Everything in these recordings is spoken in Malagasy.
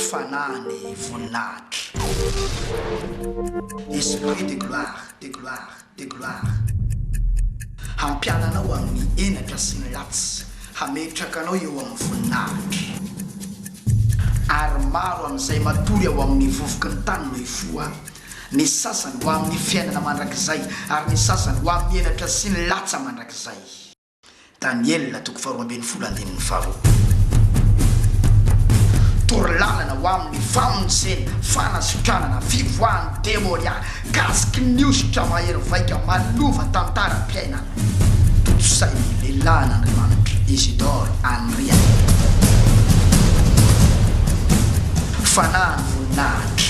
Fanahy ny voninahitra. Esprit de gloire, de gloire, de gloire. Hampiala anao amin'ny henatra sy ny ratsy, hametraka anao eo amin'ny voninahitra. Ary maro amin'izay matory ao amin'ny vovoky ny tany no hifoha, ny sasany ho amin'ny fiainana mandrakizay, ary ny sasany ho amin'ny henatra sy ny latsa mandrakizay. Daniela toko faharoa ambin'ny folo andininy faharoa Toro lalana ho amin'ny famonjena, fanasitranana, fivoahan'ny demonia, kasiky ny hosotra mahery vaika manova tantaram-piainana. Tontosain'ny lehilahin'Andriamanitra Isidore Anrian. Fanahin'ny voninahitra.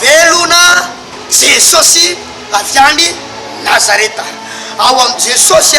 Velona Jesosy avy any Nazareta. Ao amin'i Jesosy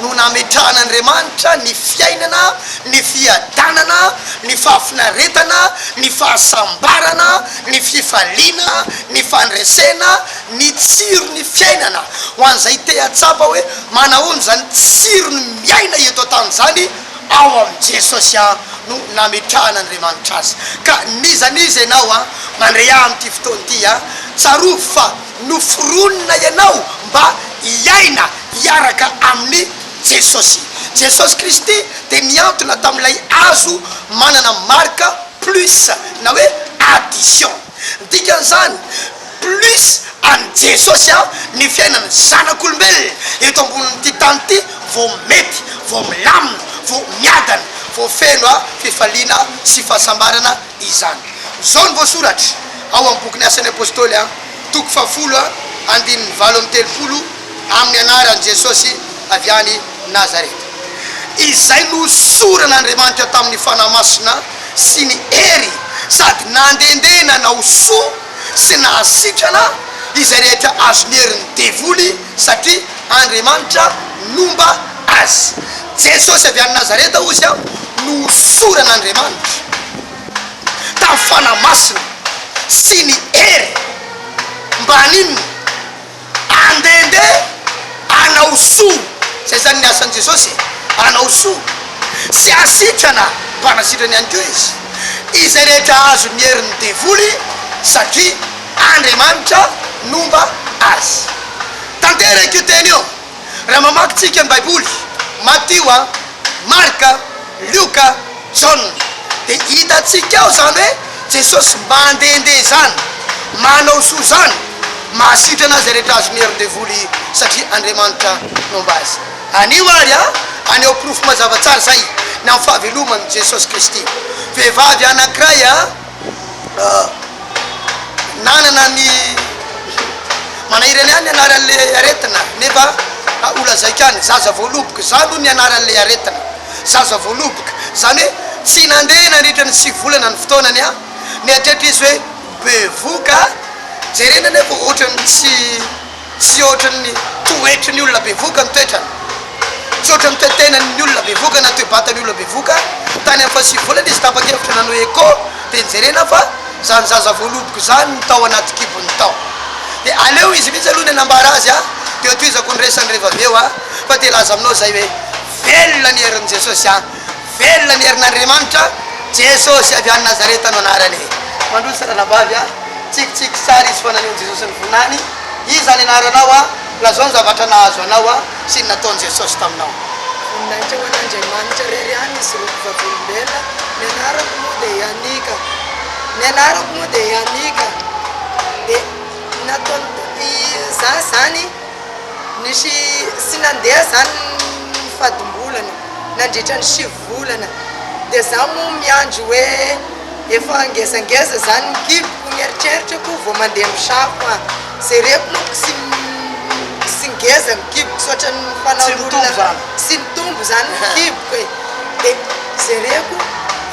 no nametrahan'Andriamanitra ny fiainana, ny fiadanana, ny fahafinaretana, ny fahasambarana, ny fifaliana, ny fandresena, ny tsiron'ny fiainana. Ho an'izay te hahatsapa hoe manahoana izany tsiron'ny miaina eto an-tany izany, Ao amin'i Jesosy an no nametrahan'Andriamanitra azy. Ka n'iza n'iza ianao an, mandre ahy amin'ity fotoana ity an, tsarovy fa noforonina ianao mba hiaina hiaraka amin'i Jesosy. Jesosy Kristy dia nihantona tamin'ilay hazo manana marika plus na hoe addition. Ny dikan'izany, Plus an'i Jesosy aho ny fiainan'ny zanak'olombelona eto ambonin'ity tany ity vao mety, vao milamina, vao miadana, vao feno fifaliana sy fahasambarana izany. Izao no voasoratra ao amin'ny bokin'ny Asan'ny Apostoly an, toko fahafolo andininy valo amby telopolo, amin'ny anaran'i Jesosy avy any Nazareta, izay nohosoran'Andriamanitra tamin'ny Fanahy Masina sy ny hery sady nandendeana nanao soa, sy nahasitrana izay rehetra azon'ny herin'ny devoly satria Andriamanitra nomba azy. Jesosy avy any Nazareta hozy aho no hosoran'Andriamanitra tamin'ny Fanahy Masina sy ny hery mba haninona? Andehandeha hanao soa. Izay izany ny asan'i Jesosy e, hanao soa. Tsy hasitrana mpanasitrana ihany koa Izy. Izay rehetra azon'ny herin'ny devoly satria Andriamanitra nomba azy. Tanteraka io teny io. Raha mamaky tsika ny baiboly, Matio a, Marka, Lioka, Jaona, de hitatsika ao zany hoe Jesosy mandende zany, manao soa zany, mahasitrana zay rehetra azony herin devoly satria Andriamanitra nomba azy. Anio ary a, aneho porofo mazava tsara zay ny am fahavelomany Jesosy Kristy. Vehivavy anakiray a. nanana ny mana ireny ihany ny anaran'le aretina nefa ho lazaiko ihany zaza voaloboka za aloha ny anaran'le aretina zaza voaloboka zany hoe tsy nandeha nandritra ny sivy volana ny fotoanany a mieritreritra izy hoe bevoka jerena nefa ohatran'ny tsy Tsy ohatry ny toetry ny olona bevoka ny toetrany. Tsy ohatry ny toe-tenan' ny olona bevoka na toe-batan' ny olona bevoka. Tany amin' ny fahasivy volana izy tapa-kevitra nanao echo dia njerena fa izany zaza voaloboka izany no tao anaty kibony tao. Dia aleo izy mihitsy aloha no hanambara azy an! Dia hotohizako ny resany rehefa avy eo an! Fa te hilaza aminao izay hoe, Velona ny herin' i Jesosy an! Velona ny herin'Andriamanitra, Jesosy avy any Nazareta no anarany. Mandroso ranabavy a! Tsikitsiky sary izy foana eo ny Jesosy nivoninany, Iza ny anaranao a? Lazao ny zavatra nahazo anao a! Sy ny nataon'i Jesosy taminao. Voninahitra ho an'Andriamanitra irery any izy roa mpivavolombelona, Ny anarako moa dia Yanika, Ny anarako moa dia Yanika, dia nataon'i Tompo izaho izany. Nisy tsy nandeha izany ny fadim-bolana nandritra ny sivy volana dia izaho moa miandry hoe efa ngezangeza izany ny kiboko, ny eritreritrako vao mandeha misafo an! Jereko moa tsy ngeza ny kiboko tsy ohatran'ny fanaon'olona tsy nitombo izany ny kiboko e! Dia jereko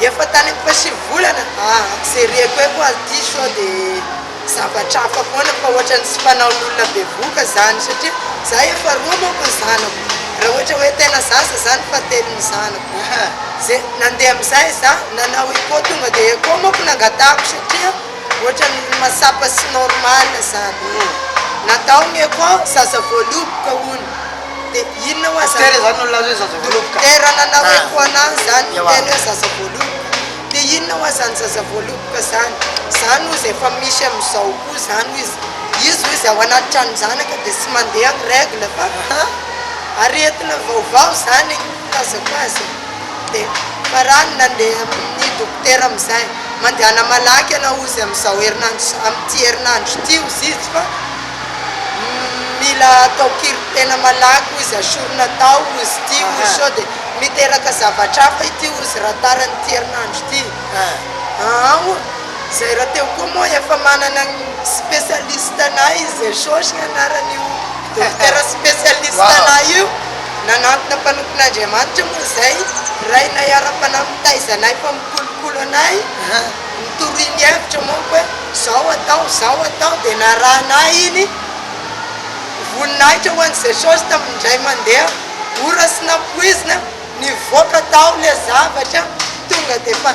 efa tany amin'ny fahasivy volana an! Jereko hoe koa aty sao dia. zavatra hafa foana fa ohatran'ny tsy fanaon'olona bevoka zany satria za efa roa manko ny zanako raha ohatra hoe tena zaza zany fa telo ny zanako ze nandeha amizay za nanao echo tonga de echo manko nangatahako satria ohatran'ny mahatsapa tsy normal zany e natao ny echo zaza voaloboka hono de inona hoazy dokotera nanao echo anahy zany tena hoe zaza voaloboka Dia inona hoa zany zaza voaloboka zany? Zany hozy efa misy amizao koa zany hozy, izy hozy ao anaty tranon-janaka dia tsy mandeha ny règle fa ha aretina vaovao zany ny filazako azy e! Dia farany nandeha amin'ny dokotera amizay, mandehana malaky ianao hozy amizao herinandro, amin'ity herinandro ity hozy izy fa. Mila atao kiry tena malaky ozy asorina atao ozy ity ozy sode miteraka zavatra hafa ity ozy raha tara ny ity herinandro ity aa zay raha teo koa moa efa manana ny specialiste nay Jesosy ny anarany io dokotera specialiste nay io nanantona mpanompon' Andriamanitra moa zay rainay ara-panahy mitaiza anay fa mikolokolo anay ny toriany hevitra manko hoe zao atao zao atao dia narahana ahy iny voninahitra ho an'i Jesosy tamin'ny indray mandeha ora sy nampoizina nivoaka tao ilay zavatra tonga dia efa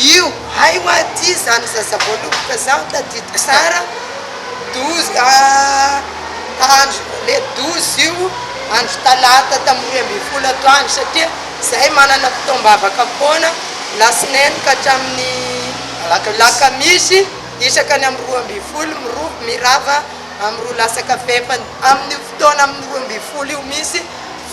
io hay hoa aty izany zaza voaloboka izany tadidiko sara douze andro le douze io andro talata tamin'ny roa ambin'ny folo atoandro satria izay manana fotoam-bavaka foana lasinainy ka hatramin'ny alakamisy isaka ny amin'ny roa ambin'ny folo mirov mirava amin'ny roa lasaka fahefany amin'io fotoana amin'ny roa ambin'ny folo io misy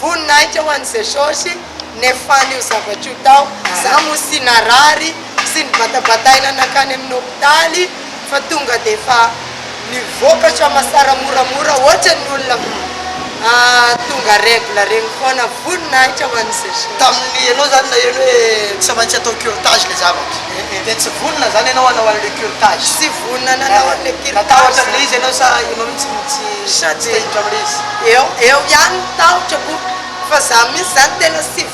voninahitra ho an'i jesosy nefan'io zavatra io tao za moa sy narary sy nibatabataina nankany amin'ny hopitaly fa tonga dia efa mivoaka soamasara moramora ohatran'ny olona tonga règle regny foana, voninahitra ho an'i Jésus. Tamin'ny ianao izany naheno hoe tsy maintsy atao curetage ilay zavatra, dia tsy vonona izany ianao hanao an'ilay curetage? Tsy vonona nanao an'ilay curetage. Natahotra an'ilay izy ianao sa ianao mihitsy no tsy te hiditra amin'ilay izy? Eo ihany ny tahotra, fa za mihitsy izany tena tsy vonona.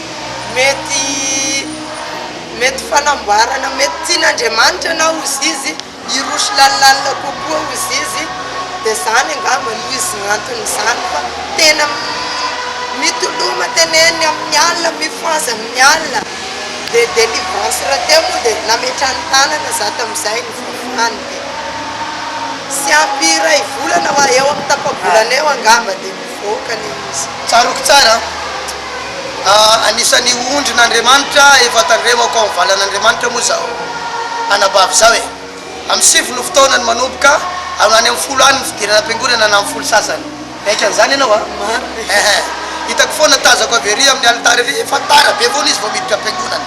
mety mety fanamboarana mety tian'Andriamanitra na ozy izy hiroso lalilalina kokoa ozy izy dia izany angamba no izy no anton'izany fa tena mitoloma teneniny amin'ny alina mifohaza amin'ny alina dia délivrance rahateo moa dia nametrany tanana za tamin'izay ny fahafahany dia tsy ampy iray volana eo amin'ny tapa-bolana eo angamba dia vahoaka le izy. Tsaroako tsara a! Anisan'ny ondrin'Andriamanitra efa tandremako ao amin'ny valan'Andriamanitra moa zaho anabavy zaho e! Amin'ny sivy no fotoanany manomboka, any amin'ny folo any ny fidirana am-piangonana na amin'ny folo sasany. Miaiky an'izany ianao a! Marina e! Ehe! Hitako foana tazako avy ery amin'ny alitara ery fa tara be foana izy vao miditra am-piangonana.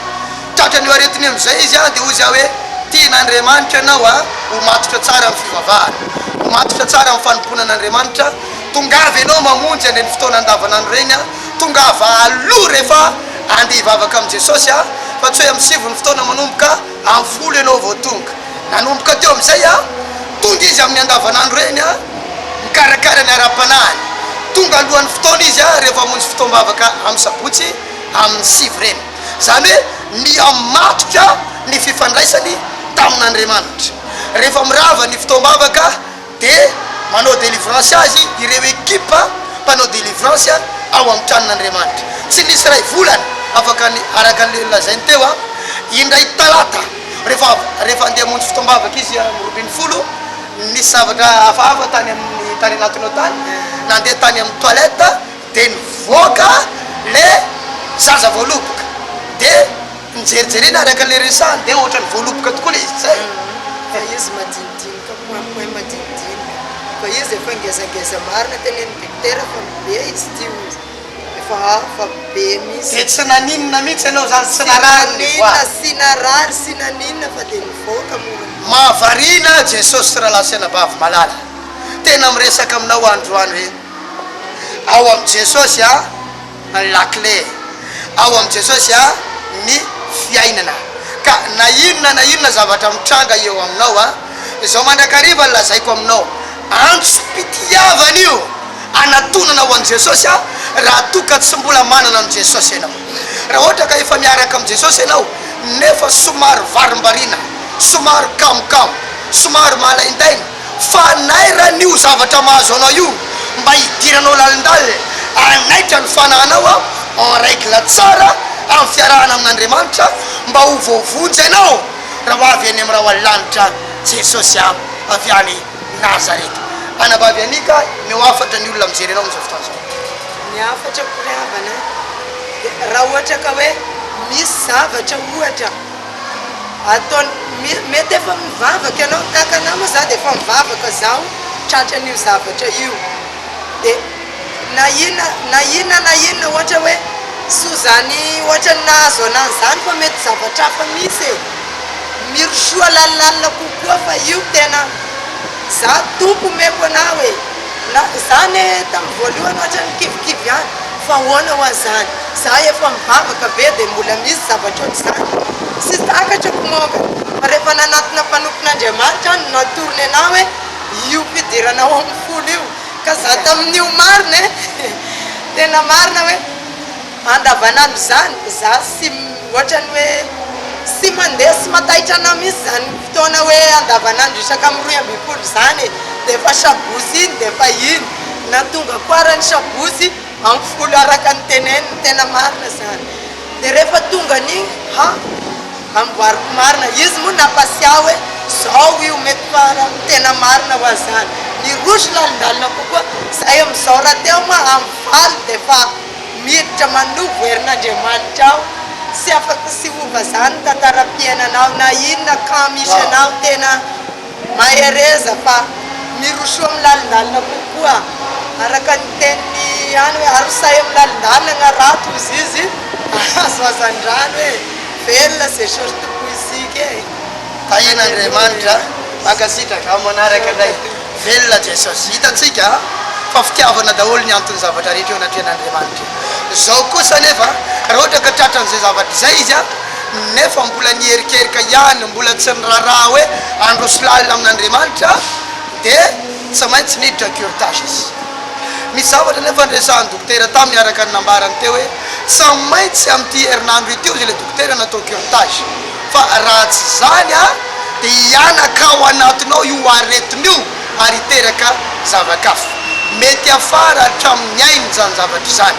Tratran'io aretina io amin'izay izy a! Dia hoy za hoe, Tian'Andriamanitra anao a! Ho matotra tsara amin'ny fivavahana. Ho matotra tsara amin'ny fanompoana an'Andriamanitra. Tongava ianao mamonjy any amin'ny fotoana andavanandro ireny a! Tongava aloha rehefa andeha hivavaka amin'i Jesosy a! Fa tsy hoe amin'ny sivy ny fotoana manomboka, amin'ny folo ianao vao tonga. Nanomboka teo amin'izay a! Tonga Izy amin'ny andavanandro ireny a! Mikarakara ny ara-panahiny. Tonga alohan'ny fotoana Izy a! Rehefa hamonjy fotoam-bavaka amin'ny sabotsy amin'ny sivy ireny. Izany hoe mihamatotra ny fifandraisany tamin'Andriamanitra. Rehefa mirava ny fotoam-bavaka, Dia manao délivrance azy ireo ekipa mpanao délivrance ao amin'ny tranon'Andriamanitra. Tsy nisy iray volana afaka ny, araka an'ilay nolazainy teo an, indray talata rehefa, rehefa andeha hamonjy fotoam-bavaka izy amin'ny roa ambin'ny folo, nisy zavatra hafahafa tany amin'ny tarehin'Antonao tany, nandeha tany amin'ny toilette, de nivoaka le zaza voaloboka de njerijerena araka le resahany de ohatrany voaloboka tokoa le izy zay fa izy madinidinika point point madinidinika fa izy efa ngezangeza marina teneniny dokotera fa be izy ty ozy efa hafa be misy de tsy naninona mitsy enao zany tsy narary ny voa tsy narary tsy naninona fa de nivoaka mora mahavariana ahy Jesosy Ralahy sy Anabavy malala tena miresaka aminao androany hoe. Ao amin'i Jesosy a ny lakile. Ao amin'i Jesosy a ny fiainana. Ka na inona na inona zavatra mitranga eo aminao a, izao mandrakariva lazaiko aminao, antsom-pitiavana io anatonana ho an'i Jesosy a, raha toa ka tsy mbola manana an'i Jesosy ianao. Raha ohatra ka efa miaraka amin'i Jesosy ianao nefa somary varimbariana, somary kamokamo, somary malaindaina, Fanairana io zavatra mahazo anao io mba hidiranao lalindalina hanaitra ny fanahinao en règle tsara amin'ny fiarahana amin'Andriamanitra mba ho voavonjy ianao raha ho avy any amin'ny rahona lanitra Jesosy a! avy any Nazareta. Anabavy Anika, omeo hafatra ny olona mijery anao amin'izao fotoana izao. Ny hafatra ko ry havana a, dia raha ohatra ka hoe misy zavatra ohatra. ataony mety efa mivavaka ianao ny kankana moa za dia efa mivavaka zaho tratra an'io zavatra io dia na inona na inona na inona ohatra hoe soa zany ohatra ny nahazo an'azy zany fa mety zavatra hafa misy e mirosoa lalalina kokoa fa io tena za tompo omeko anao e na za ne tamin'ny voalohany ohatra ny kivikivy ihany fa ahoana ho an'izany Za efa mivavaka ve dia mbola misy zavatra ohatr'izany? Tsy takatro ny mombany, fa rehefa nanatona fanofin'Andriamanitra aho no natorony anao hoe io fidirana ao amin'ny folo io ka za tamin'io marina e! tena marina hoe andavanandro izany za sy ohatran'ny hoe sy mandeha sy mataitra anao mihitsy izany fotoana hoe andavanandro isaka amin'ny roy ambin'ny folo izany e! dia efa sabotsy iny dia efa iny na tonga farany sabotsy Ampifolo araka ny teneniny tena marina zany de refa tonga an'igny ha amboariko marina izy moa napasiahy hoe zao io mety par tena marina wa zany ny roso lalindalina kokoa zay amizao ra teo ma amy valo defa miditra manovo herin'Andriamanitra aho sy afaka sy hova zany tantarapiainanao na inona ka misy anao tena Mahereza fa mirosoa amin'ny lalindalina kokoa araka ny tenin'ny any hoe arosahy amin'ny lalindalina ny harato ozy izy ahazo hazandrano e! Velona ze short musique e! Tahian'Andriamanitra a! Mankasitraka amin'ny manaraka indray. Velona Jesosy. Hitantsika fa fitiavana daholo ny anton'ny zavatra rehetra eo anatrehan'Andriamanitra. Izao kosa anefa raha ohatra ka tratran'izay zavatra izay izy a! nefa mbola niherikerika ihany, mbola tsy niraharaha hoe handroso lalina amin'Andriamanitra, dia tsy maintsy niditra curetage izy. Misy zavatra anefa niresahan'ny dokotera taminy araka ny nambarany teo hoe tsy maintsy amin'ity herinandro ity hozy ilay dokotera natao curetage fa raha tsy izany dia hihanaka ao anatinao io aretina io ary hiteraka zava-kafa mety hafara hatramin'ny ainy izany zavatra izany.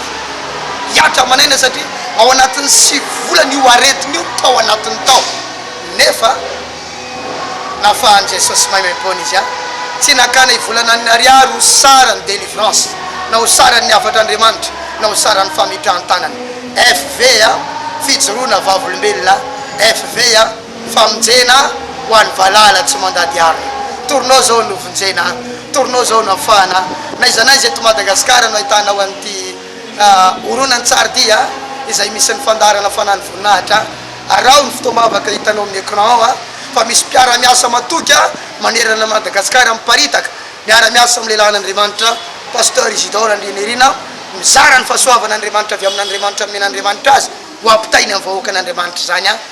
hiatrika aman'aina satria ao anatin'ny sivy volana io aretina io tao anatiny tao nefa nafahan'i Jesosy maimaimpoana izy an! tsy nakana ivolanan'ny ariary ho saran'ny delivrance na ho saran'ny hafatr'Andriamanitra na ho saran'ny famitran-tanana fv a! fijoroana vavolombelona fv a! famonjena ho an'ny valala tsy mandady arina. Torinao zao no vonjena, torinao zao no afahana, n'aiza n'aiza eto Madagasikara no ahitanao an'ity horonantsary dia izay misy ny fandaharana Fanan'ny Voninahitra. Araho ny fotoam-bavaka hitanao amin'ny écran ao fa misy mpiara-miasa matoky manerana an'i Madagasikara miparitaka miara-miasa amin'ny lelan'Andriamanitra, Pasteur Isidore Andrianirina, mizara ny fahasoavan'Andriamanitra avy amin'Andriamanitra nomen'Andriamanitra azy ho ampitainy amin'ny vahoakan'Andriamanitra izany.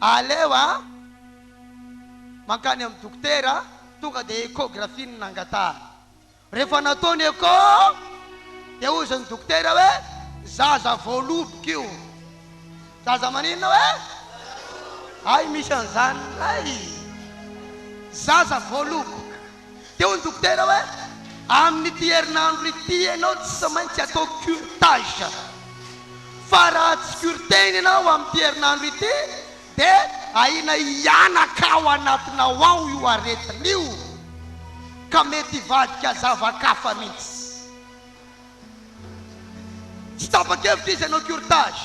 Aleo a! Mankany amin'ny dokotera tonga dia échographie no nangatahana. Rehefa natao ny echo dia hoy izany dokotera hoe zaza voaloboka io. Zaza maninona hoe? Hay misy an'izany ndray! Zaza voaloboka. Dia hoy ny dokotera hoe, Amin'ity herinandro ity ianao tsy maintsy atao curetage. Fa raha tsy cureteny ianao amin'ity herinandro ity dia ahiana hihanaka ao anatinao ao io aretina io ka mety hivadika zava-kafa mihitsy. Tsy tapa-kevitra izy hanao curetage.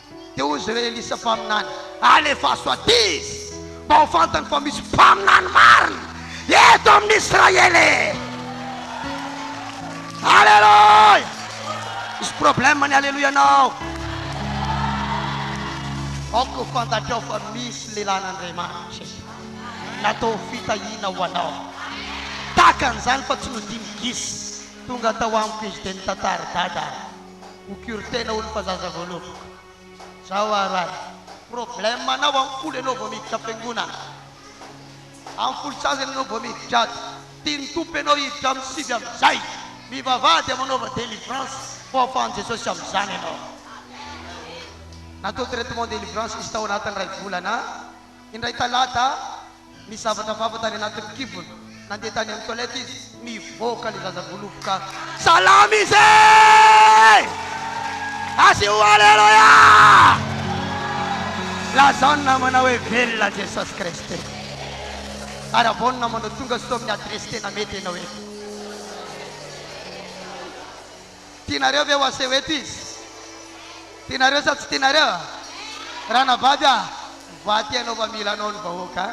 Dia hoy izy ireo, Elisa mpaminany, alefaso aty izy, mba ho fantany fa misy mpaminany marina eto amin'ny Israely e! Aleloia! Misy problème ny aleloianao. Aoka ho fantatrao fa misy lelan'Andriamanitra eto, natao ho fitahiana ho anao. Tahaka an'izany fa tsy nodimigisa, tonga tao amiko izy dia nitantara, Dada, ho cure tena hono fa zaza vao lovako zao ary an problème anao ampoly enao vao miditra am-piangonana ampoly sasany enao vao miditra ato tian'ny tompo enao hiditra amin'ny sivy amin'izay mivavaha dia manaova délivrance ho afahan'i Jesosy amin'izany enao natao traitement délivrance izy tao anatin'ny iray volana Indray talata, nizavatra vava tany anatin'ny kibony. Nandeha tany amin'ny toilette izy. Mivoaka ilay zaza voaloboka. Salama izy eh! Asio Aleloia! Lazao ny namanao hoe velona Jesosy Kristy. Arabao ny namanao, tonga soa amin'ny adiresy tena mety ianao eto. Tianareo ve ho aseho eto izy? Tianareo sa tsy tianareo a? Ranabavy a! Mivaha ty anao fa mila anao ny vahoaka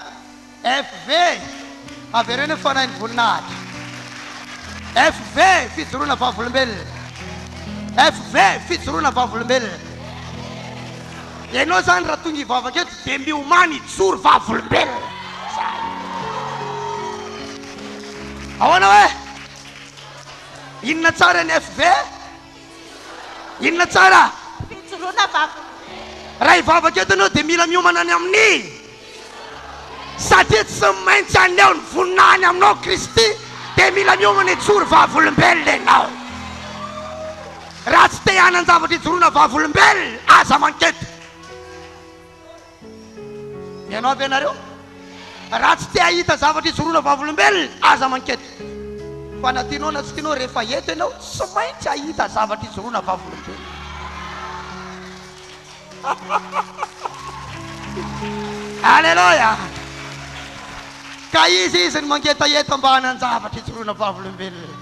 a! FV! Avereno ny fanahin'ny voninahitra! FV! Fijoroana vavolombelona! FV! Fijoroana vavolombelona! Ianao zany raha tonga hivavaka eto dia miomany hijoro vavolombelona! Zay! Ahoana hoe? Inona tsara ny FV? Inona tsara? Fijoroana vavaka. Raha hivavaka eto ianao dia mila miomana ny amin'ny satria tsy maintsy haneho ny voninahiny aminao Kristy dia mila miomana hijoro vavolombelona ianao. Raha tsy te hanan-javatra hijoroana vavolombelona, aza manketo. Ianao avy ianareo raha tsy te hahita zavatra ijoroana vavolombelona aza mankety fa na tianao na tsy tianao rehefa eto ianao tsy maintsy hahita zavatra ijoroana vavolombelona Aleloia Ka izy izy ny mangetaheta mba hanan-javatra ijoroana vavolombelona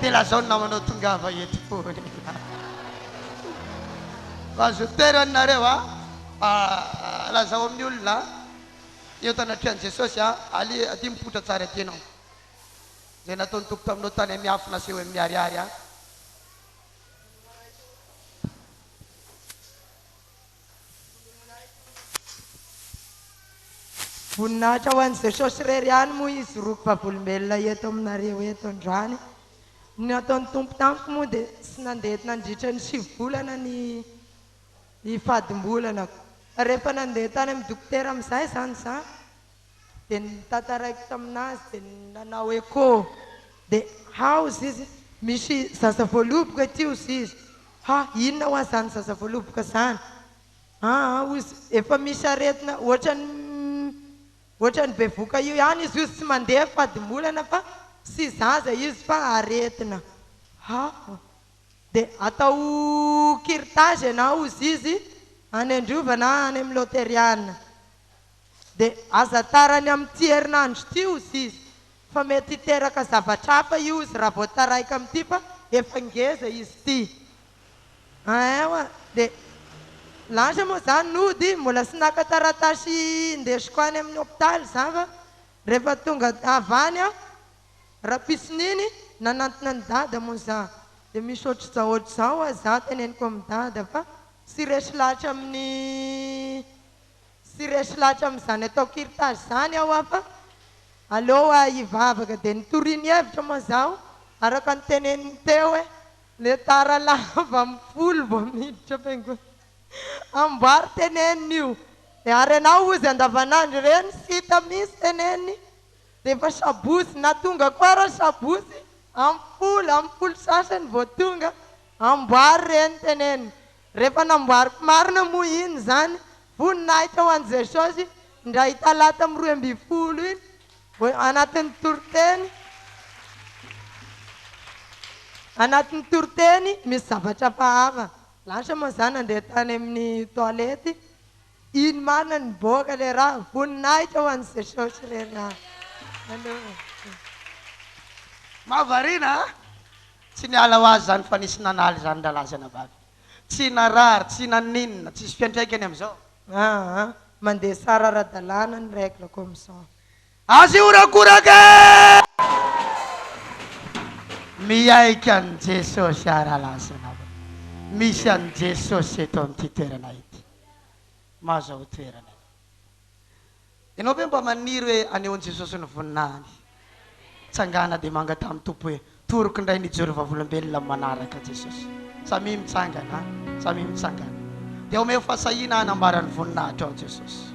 dia lazao ny namanao tongava eto foana Azo toerana nareo a Mba lazao amin'ny olona eo tanatrehan'i Jesosy a, ali, adia mipoitra tsara ity ianao. Izay nataon'ny Tompo taminao tany amin'ny afo nasehoy amin'ny miharihary a. Voninahitra ho an'i Jesosy irery ihany moa izy roa mpivavolombelona eto aminareo eto androany. Ny nataon'ny Tompo tamiko moa dia tsy nandeha nandritra ny sivy volana ny. ny fadim-bolanako. Fa rehefa nandeha tany amin'ny dokotera amin'izay izany izaho dia notantaraiko tamin'azy dia nanao echo dia ha hozy izy misy zaza voaloboka ety hozy izy ha inona hoa izany zaza voaloboka izany aa hozy efa misy aretina ohatran'ny ohatran'ny bevoka io ihany izy hozy tsy mandeha fadim-bolana fa tsy zaza izy fa aretina ha. dia atao kirtazy ianao ozy izy any androva na any amin'ny loteriana dia aza tarany amin'ity herinandro ity ozy izy fa mety hiteraka zavatra hafa io ozy raha vao taraiky amin'ity fa efa ngeza izy ity ain oa dia lasa moa zany nody mbola sy naka taratasy indesiko any amin'ny hopitaly za fa rehefa tonga avy any aho Rapisininy nanantona an'i dada moa za de misy ohatr'izao ohatr'izao oa za teneniko amin'i dada fa sy resy lahatra amin'ny sy resy lahatra amin'izany atao kirtazy zany aho oa fa aleo oa hivavaka de nitoriany hevitra moa zaho araka ny teneniny teo hoe le tara lava amin'ny folo vao miditra fiangonana amboary teneniny io ary ianao ozy andavanandro ireny sy hita mihintsy teneniny Rehefa sabotsy na tonga koa ary sabotsy am folo am folo sasany vao tonga, amboary re ny teneniny. Rehefa namboariko marina moa iny izany voninahitra ho an'i Jesosy indray talata am roa ambin'ny folo iny vao anatin'ny toriteny anatin'ny toriteny misy zavatra hafahafa. Lasa moa za nandeha tany amin'ny toilette. Iny marina ny niboaka le ra, voninahitra ho an'i Jesosy re na, nanohana. Mahavariana a! Tsy niala ho azy zany fa nisy nanaly zany rahalahy sy anabavy. Tsy narary, tsy naninona, tsisy fiantraikany amizao. Aa, mandeha tsara ara-dalàna ny règle comme ça. Aza hihorakoraka e! Miaiky an'i Jesosy aho rahalahy sy anabavy. Misy an'i Jesosy eto amin'ity toerana ity. mahazo ao toerana eo. Ianao ve mba maniry hoe haneho an'i Jesosy ny voninahiny? Tsangana dia manga tamin'ny Tompo hoe, Toroko indray ny hijoro vavolombelona amin'ny manaraka Jesosy. Samia mitsangana, samia mitsangana. Dia omeo fahasahiana hanambara ny voninahitrao Jesosy.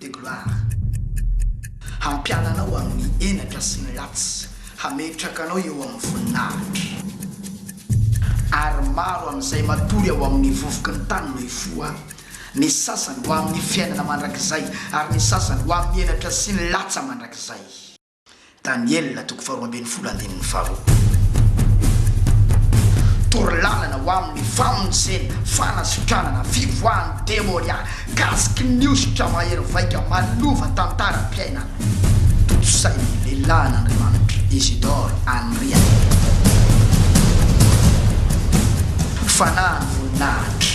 de gloire Hampiala anao amin'ny henatra sy ny ratsy Hametraka anao eo amin'ny voninahitra Ary maro amin'izay matory ao amin'ny vovoky ny tany no hifoha Ny sasany ho amin'ny fiainana mandrakizay Ary ny sasany ho amin'ny henatra sy ny latsa mandrakizay. Daniela toko faharoa ambin'ny folo andininy faharoa Toro lalana ho amin'ny famonjena, fanasitranana, fivoahan'ny demonia, kasiky ny hosotra mahery vaika manova tantaram-piainana. Tontosain'ny lehilahin'Andriamanitra Isidore Anrian. Fanahin'ny voninahitra.